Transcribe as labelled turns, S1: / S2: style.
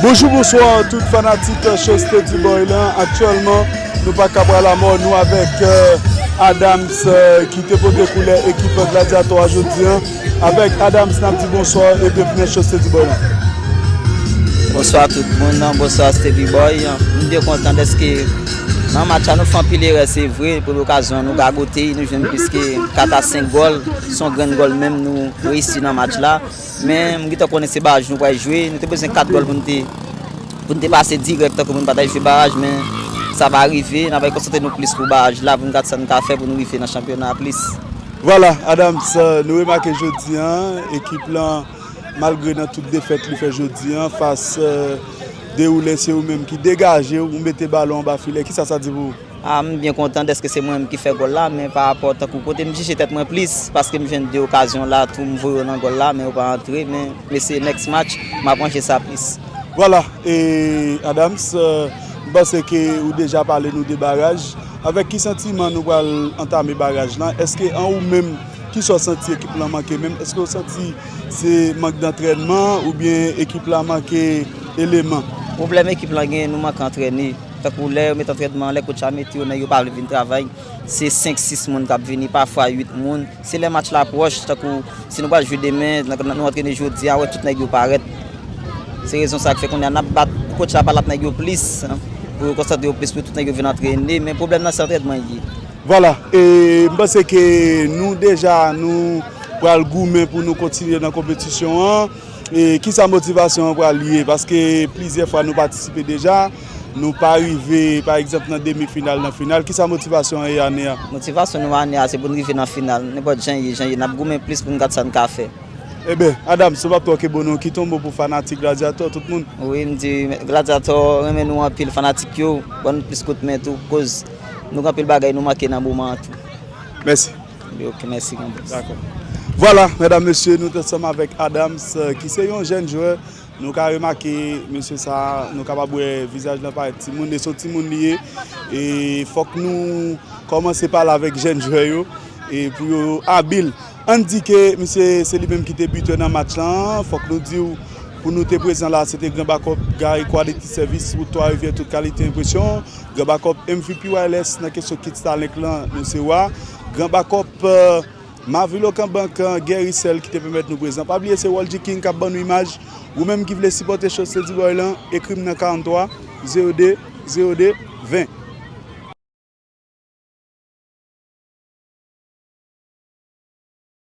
S1: Bonjou bonswa tout fanatik Show Steady Boy lan Aktyèlman nou pa ka pral amò nou avèk Adams ki te pote koulè ekip Gladiator a jodi an Avèk Adams nap di bonswa e byenvni nan Show Steady Boy lan
S2: Bonswa tout moun, bonswa Steady Boy Nou byen kontan dèske nan match a nou fè anpil erè se vre pou lokazyon nou gagote nou jwenn plis ke 4 a 5 gòl son grenn gòl menm nou reyisi nan match la Men m gentan konnen se baraj nou pral jwe, nou te bezwen 4 gòl pou nou te pase dirèk tankou nou pa ta jwe baraj men sa pa rive, n ap konsantre nou plis pou baraj la pou nou gad sa nou ka fè pou nou rive nan chanpyona a plis. Vwala
S1: Adams, nou remake jodi an ekip lan malgre nan tout defèt li fè jodi an fas Deroulè se ou menm ki degaje ou mete balon anba filè, kisa sa di pou ou? Ah m byen kontan
S2: dèske se mwen menm ki fè gòl la men pa rapò tankou kote m jije tèt mwen plis paske m jwenn 2 okazyon la tou m voye yo nan gòl la men yo pa antre men m eseye next match m ap ranje sa plis. Vwala e
S1: Adams m panse ke ou deja pale nou de baraj avèk ki santiman nou pral antame baraj lan èske an ou menm ki sa w santi ekip lan manke menm èske ou santi se mank dantrènman oubyen ekip la manke eleman? Pwoblèm ekip
S2: lan genyen nou manke antrène. Tankou lè yo met antrènman anlè, kotch la mete yo nan yo pa vle vin travay, se 5, 6 moun k ap vini, pafwa 8 moun. Se lè match la pwòch, tankou si nou pral jwe demen, nou antrene jodi a, ou wè tout nèg yo parèt. Se rezon sa k fè kounye a n ap bat, pou kotch la pa l ap nèg yo plis, pou yo konsantre yo plis, pou tout nèg yo vin antrene. Men pwoblèm nan se antrènman l ye. Vwala,
S1: e m panse ke nou deja nou pral goumen pou nou kontinye nan konpetisyon an. Ki sa motivasyon an pral ye? Paske plizyè fwa nou patisipe deja, nou pa rive pa egzanp nan demi final, nan final. Ki sa motivasyon an ye ane a? Motivasyon nou ane a
S2: se pou n rive nan final. Nenpòt jan ye, jan ye, n ap goumen plis pou n gad sa n ka fè. Eben,
S1: Adams, ou pa p twòke bon non. Kite yon mo pou fanatik Gladyatò, tout moun. Wi, m di
S2: Gladyatò renmen nou anpil, fanatik yo ban nou plis kout men tou koz nou gen anpil bagay nou manke nan moman an tou. Mèsi.
S1: Ok mèsi
S2: grand près. Dakò.
S1: Vwala medam mesye nou t ansanm avèk Adams ki se yon jèn jwè nou ka remake mesye sa nou kapab wè vizaj lan parèt timoun e se yon timoun li ye e fòk nou kòmanse pale avèk jèn jwè yo e pou yo abil ann di ke misye se li menm ki te bitè nan match lan fòk nou diw pou nou te prezan la se te gran bakòp Gary Quality Service wout 3 rivyè tout kalite enpresyon. Gran bakòp MVP Wireless nan kesyon kit Starlink lan nou se wa. Gran bakòp Mavilokan Bank an, Guerry Sèl ki te pèmèt nou prezan. Pa bliye se Waldy King kap ban nou imaj. Ou menm ki vle sipòte show Steady Boy lan, ekri m nan 43 02 02 20.